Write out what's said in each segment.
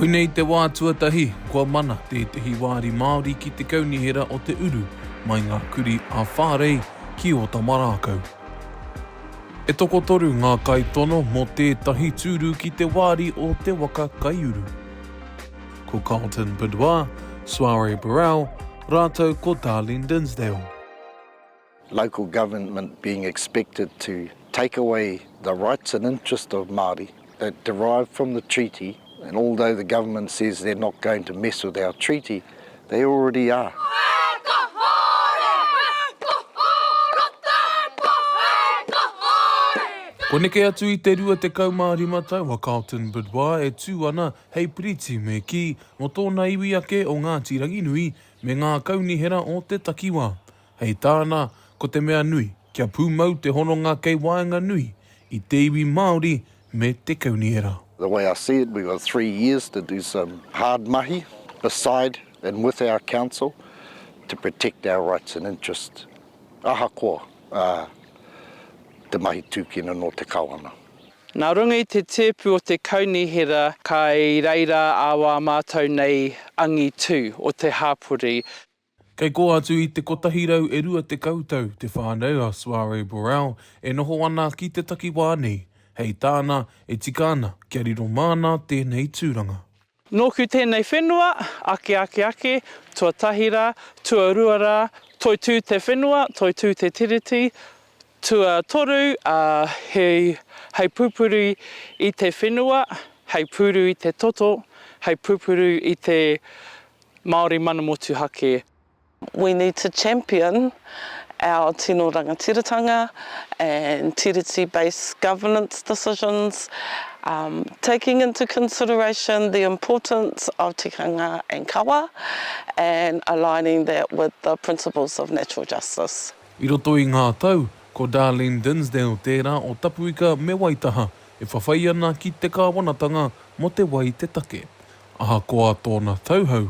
Koinei te wā tuatahi kua mana tētehi wāri Māori ki te kaunihera o te uru mai ngā kurī ā-whārei ki Ōtamarākau. E tokotoru ngā kaitono mō tētahi tūru ki te wāri o te waka kaiuru. Ko Carlton Bidwar, Soiree Burrell rātou ko Darlene Dinsdale. Local government being expected to take away the rights and interest of Māori that derive from the treaty and although the government says they're not going to mess with our treaty, they already are. Kua neke atu i te 25 tau a Carlton Bidois e tū ana hei piriti me kī, nō tōna iwi ake o Ngāti Ranginui, me ngā kaunihera o te takiwā. Hei tāna, ko te mea nui, kia pūmau te hononga kei waenganui i te iwi Māori me te kaunihera. The way I see it, we've got three years to do some hard mahi beside and with our council to protect our rights and interests, ahakoa te mahi tūkino nō te Kawana. Nā runga i te tēpu o te Kaunihera kai reira a wā mātou nei angitu o te hāpori. Kei kō atu i te kotahi rau e rua tekau tau te whānau a Soiree Burrell e noho ana ki te takiwā nei. Hei tāna, e tika ana kia riro māna tēnei tūranga. Nōku tēnei whenua, ake ake ake, tuatahi rā, tuarua rā, toitū te whenua, toitū te Tiriti, tuatoru, ā, hei, hei pupuru i te whenua, hei pūru i te toto, hei pupuru i te Māori mana motuhake. We need to champion our tino rangatiratanga and tiriti based governance decisions, taking into consideration the importance of tikanga and kawa and aligning that with the principles of natural justice. I roto i ngā tau, ko Darlene Dinsdale tērā o Tapuika me Waitaha e whawhai ana ki te kāwanatanga mō te wai te take. Ahakoa tōna tauhou,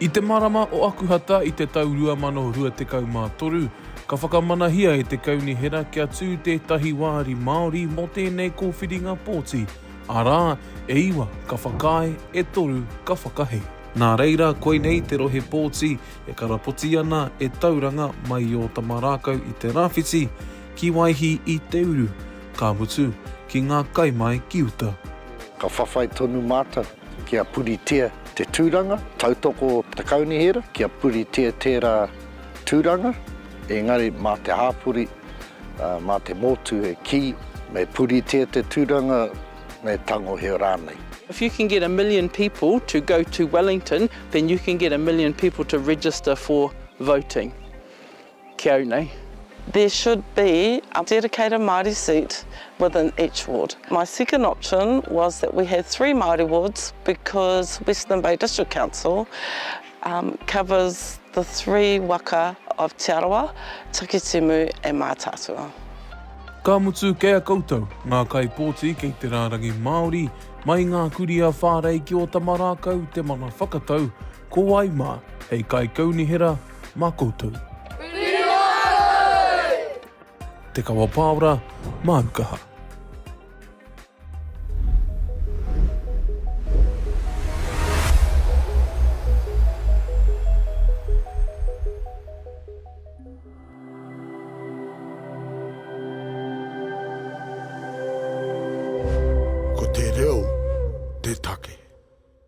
I te marama o Akuhata i te tau 2023, ka whakamanahia e te Kaunihera kia tū tētahi wāri Māori mō tēnei kōwhiringa pōti, arā, e iwa ka whakaae, e toru ka whakahē. Nā reira, koinei te rohe pōti e karapoti ana e Tauranga mai i Ōtamarākau i te rāwhiti, ki Waihī i te uru, ka mutu, ki ngā kai mai ki uta. Ka whawhai tonu mātou. Kia puritia te tūranga, tautoko te kaunihera kia puritia tērā tūranga, engari mā te hāpori, mā te motu e kī, me puritia te tūranga, me tangohia rānei. If you can get a million people to go to Wellington, then you can get a million people to register for voting. Ki au nei. There should be a dedicated Māori seat within each ward. My second option was that we had three Māori wards because Western Bay District Council covers the three waka of Te Arawa, Takitimu and Mātaatua. Ka mutu kē a koutou, ngā kaipōti kei te rārangi Māori, mai i ngā kurī a Whārei ki Ōtamarākau te mana whakatau, Ko wai ma, hei kai kaunihera ma koutou. Te Kawa Paora, Māu Kaha.